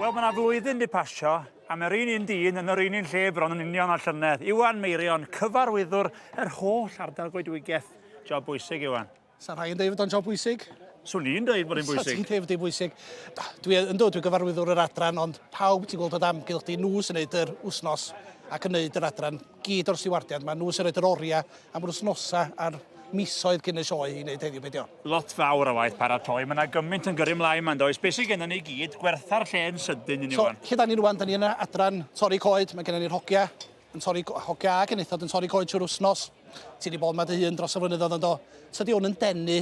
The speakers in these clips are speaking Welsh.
Wel, mae yna flwyddyn wedi pasio, a mae'r un un dyn yn yr un un lle bron yn union o'r llynedd. Iwan Meirion, cyfarwyddwr yr holl ardal goedwigaeth. Job bwysig, Iwan. Sa'n rhai yn dweud fod o'n job bwysig? Swn i'n dweud bod e'n bwysig. Swn i'n dweud bod e'n bwysig. Dwi yn dod, dwi'n gyfarwyddwr yr adran, ond pawb ti'n gweld o damgylch di, nhw sy'n gwneud yr wythnos ac yn gwneud yr adran. gyd o'r stiwardiad, maen nhw sy'n rhoi'r oriau am yr wythnosau a'r misoedd cyn y sioe i wneud heddiw, be' dio? Lot fawr o waith paratoi, mae yna gymaint yn gyrru mlaen ma'n does, be' sydd gennym ni i gyd, gwertha'r lle yn sydyn i ni ŵan. So, lle da ni rŵan, da ni yn y adran torri coed, mae gennym ni'r hogia yn torri, hogia a genethod yn torri coed trwy'r wythnos. Ti wedi bod yma dy hun dros y flynyddoedd yndo? Tydi hwn yn denu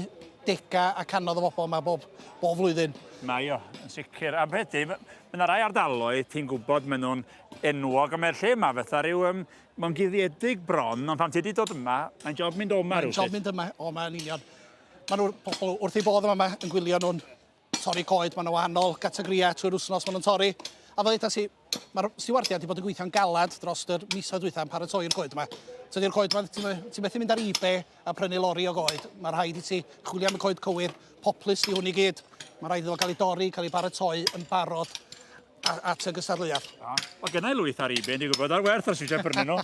dega a canodd o bobl yma bob, bob flwyddyn. Mae o, yn sicr. A beth di, mae yna rai ardaloedd ti'n gwybod maen nhw'n enwog, ond mae'r lle yma fatha rhyw... Um, mae'n guddiedig bron, ond pan ti wedi dod yma, mae'n job mynd o'ma rhywsut. Mae'n job mynd yma, o, mae'n union. Mae'n pobl wrth ei bodd yma yn gwylio nhw'n torri coed, mae'n wahanol gategoriau trwy'r wythnos maen nhw'n torri. A fel eithaf si, mae'r stiwardiad wedi bod yn gweithio'n galad dros yr misoedd dwytha yn paratoi'r coed yma. Tydi'r coed yma, ti'n methu mynd ar eBay a prynu lori o goed. Mae rhaid i ti chwilio am y coed cywir, poplus i hwn i gyd. Mae rhaid iddo gael ei dorri, cael ei baratoi yn barod A, a ty gysa'r leiaf. O, o gynna i lwyth ar ebay, ni'n gwybod ar werth os eisiau prynu nhw.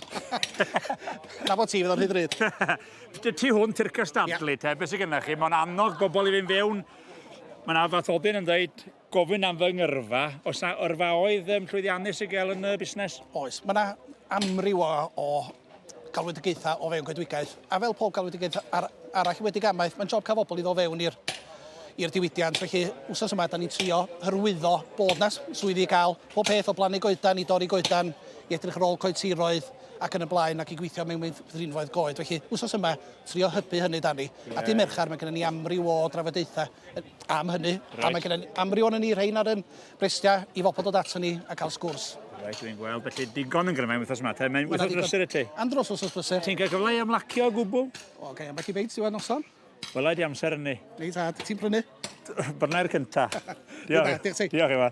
Na bod ti fydd o'n rhy ddrud. Ti hwn ti'r cystadlu, yeah. te, beth sy'n gynnach chi? Mae'n annog bobl i fynd fewn. Mae'n yna fath odyn yn dweud, gofyn am fy ngyrfa, os na yrfa oedd um, llwyddiannus i gael yn y busnes? Oes, mae yna amryw o, o galwedigaethau o fewn coedwigaeth. A fel pob galwedigaeth ar, arall wedi gamaeth, mae'n job cael bobl i ddod fewn i'r i'r diwydiant. Felly, wsos yma, da ni'n trio hyrwyddo bod na swyddi i gael pob peth o blannu goedan i dorri goedan i edrych ar ôl coed tiroedd ac yn y blaen ac i gweithio mewn meithrinfoedd goed. Felly, wsos yma, trio hybu hynny, Dani. Yeah. A dim merchar, mae gennym ni amryw o drafodaethau am hynny. Right. A mae gennym ni amryw o'n ni rhain ar yn Brystiau i fobl dod ato ni a cael sgwrs. Reit, dwi'n gweld, felly digon yn gryfau wythnos yma, te. Mae'n wythnos brysur y ti. Am dros wythnos brysur. Ti'n cael gyfle i ymlacio o gwbl? O, gael ambell i feit diwedd noson. Wela di amser yn ni. Reit, a ti'n prynu? Brynau'r cynta. Diolch. Diolch ti. Diolch, Ewa.